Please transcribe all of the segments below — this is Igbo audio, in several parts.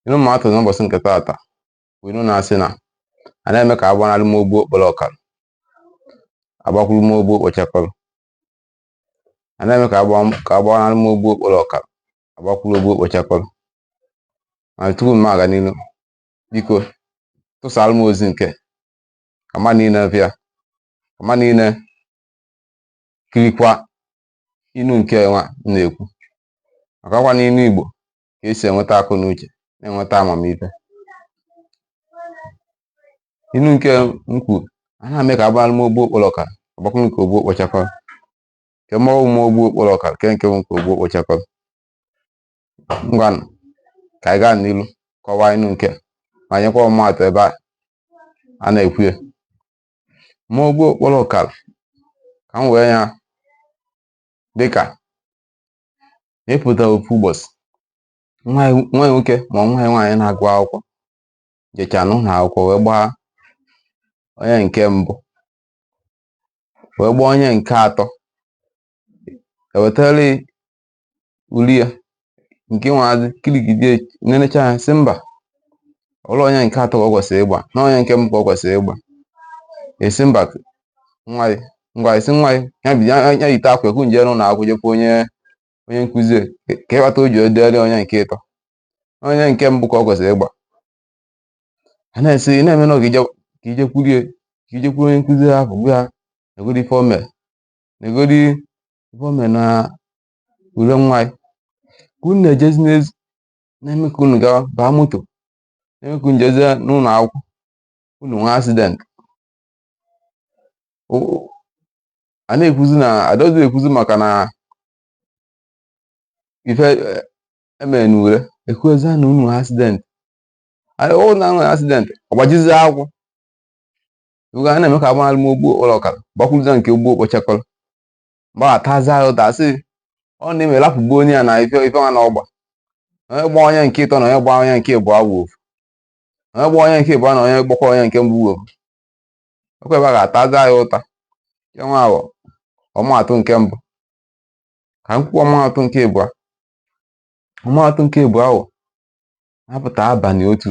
Inu m atụ n'ụbọchị nke taata bụ inu na-asị na a na-eme ka agbanarị m ogbu okporo ọkara agbakwuru m ogbu okpochakọrọ a na-eme ka agbanarị m ogbu okporo ọkara agbakwuru ogbu okpochakọrọ ma tupu m aga n'iru biko tụsara m ozi nke ka mmadụ niile bịa ka mmadụ niile kirikwa inu nke nwa m na-ekwu maka ọkwa n'inu igbo ka esi enweta akọ na uche na-enweta amamife inu nke m kwuru a na-eme ka agbanarị m ogbu okporo ọkara agbakwuru nke ogbu okpochakọrọ kee mmanwụ m ogbu okporo ọkara kee nke wụ nke ogbu okpochakọrọ ngwanụ ka anyị gaa n'iru kọwaa inu nke ma nyekwa ọmụmaatụ ebe a a na-ekwu ya ma ogbu okporo ọkara ka m wee ya dịka ma ị pụta ofu ụbọchị nwa ya nwoke ma nwa ya nwaanyị na-agụ akwụkwọ jecha n'ụlọ akwụkwọ wee gbaa onye nke mbụ wee gbaa onye nke atọ ewetara ya ule ya nke nwaazị kiligide nenecha ya sị mba ọrọ onye nke atọ ka ọ kwesịrị ịgba na onye nke mbụ ka ọ kwesịrị ịgba ị sị mba nwa ya ngwa ị sị nwa ya ya bi- ya- ya yite akwa ka unu jee ụlọ akwụkwọ jekwa onye onye nkụzi ya, ka- ka ịghọta o ji edere onye nke ịtọ onye nke mbụ ka ọ kwesịrị ịgba a na-esi ị na-eme na ọ ga-eje- ka ijekwuru ya ka ijekwuru onye nkụzi ahụ gwa ya negodi ife o mere negodi ife o mere na ule nwa ya ka unu na-ejezi n'ezi na-eme ka unu gawa baa moto na-eme ka unu jezie n'ụlọ akwụkwọ unu nwee accident a na-ekwuzi na adọzi ekwuzi maka na ife emere na ule ekwuzi na unu accident ọ na nwere accident ọgbajizi ya ụkwụ oge a na-eme ka agbanarị m ogbu okporo ọkara gbakwuruza nke ogbu okpochakọrọ mgbe a tazi ya ụta sị ọ na-eme rapụgbu onye ya na ife ife nwa na ọgba onye gba onye nke ịtọ na onye gba onye nke ịbụọ wụ ofu onye gba onye nke ịbụọ na onye gbakwa onye nke mbụ wụ ofu ọkwa ebe a ga-ataza ya ụta ya nwa ahụ ọmaatụ nke mbụ ka m kwuo ọmaatụ nke ịbụọ ọmaatụ nke ịbụọ ahụ apụta abalị otu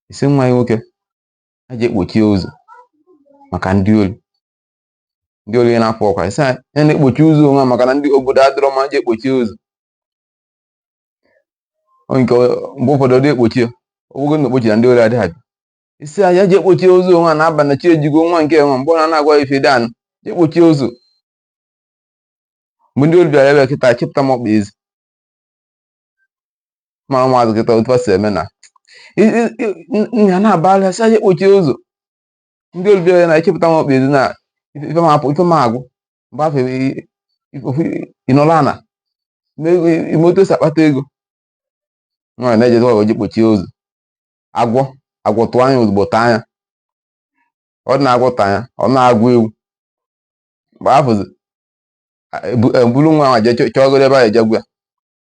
ị sị nwa ya nwoke ya je kpochie ụzọ maka ndị ori ndị ori ya na-afọ ọkwa ị sị ya na-ekpochi ụzọ onwe maka na obodo adịrọ mma je kpochie ụzọ Ọ nke mgbe ụfọdụ ọ dị ekpochi ya ogogo na okpochi na ndị ori adịghị abịa isi a ya ji ekpochi ụzọ onwe a na-aba na chi ejigo nwa nke nwa mgbe ọ na na-agwa ya ife dị anụ ji ekpochi ụzọ mgbe ndị ori bịara ebe kịta chịpụta m ọkpa ezi ma ụmụazụ kịta otu ha si eme na I- i- i- nna ya na-abara sị aja ekpochi ụzọ ndị ori bịara na-achịpụta m ọkpa ezi na ife ife m apụ ife m agwụ mgbe afọ ịnọla ana ime otu esi akpata ego nwaanyị na-ejezi ọgọ ji kpochie ụzọ agwọ agwọ tụọ anya ozugbo taa anya ọ dị na agwọ taa anya ọ na agwọ ewu mgbe afọzi eburu nwa ahụ jee chọgoro ebe a eje gwọ ya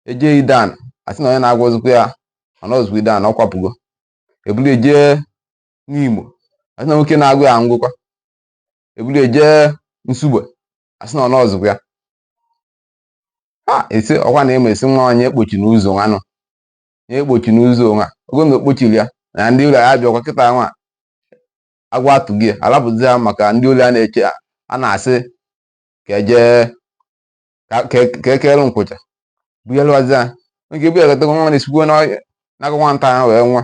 eje Ideani asị na onye na-agwọ anọzikwa ya ọ nọzikwa Ideani ọ kwapụgo eburu ejee Nimo asị na nwoke na-agwọ ya anwụkwa eburu eje Nsugbe asị na ọ nọzikwa ya ha esi ọkwa na eme esi nwa onye ekpochina ụzọ nwa nọ onye ekpochina ụzọ nwa ogo na okpochiri ya na ndị ori abịakwa kịta nwa agwọ atụghị ya alapụzi ya maka ndị ori a na-eche ya a na-asị ka eje ka- ka ka ekere nkwụcha buyelụwazi ya nke buyelụtago nwa na-esikwu n'ọhịa n'aka nwata ahụ wee nwụọ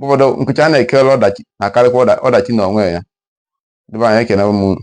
ụfọdụ nkwụcha a na-ekere ọdachi na-akarịkwa ọdachi n'onwe ya ndị ba anyị ekene m unu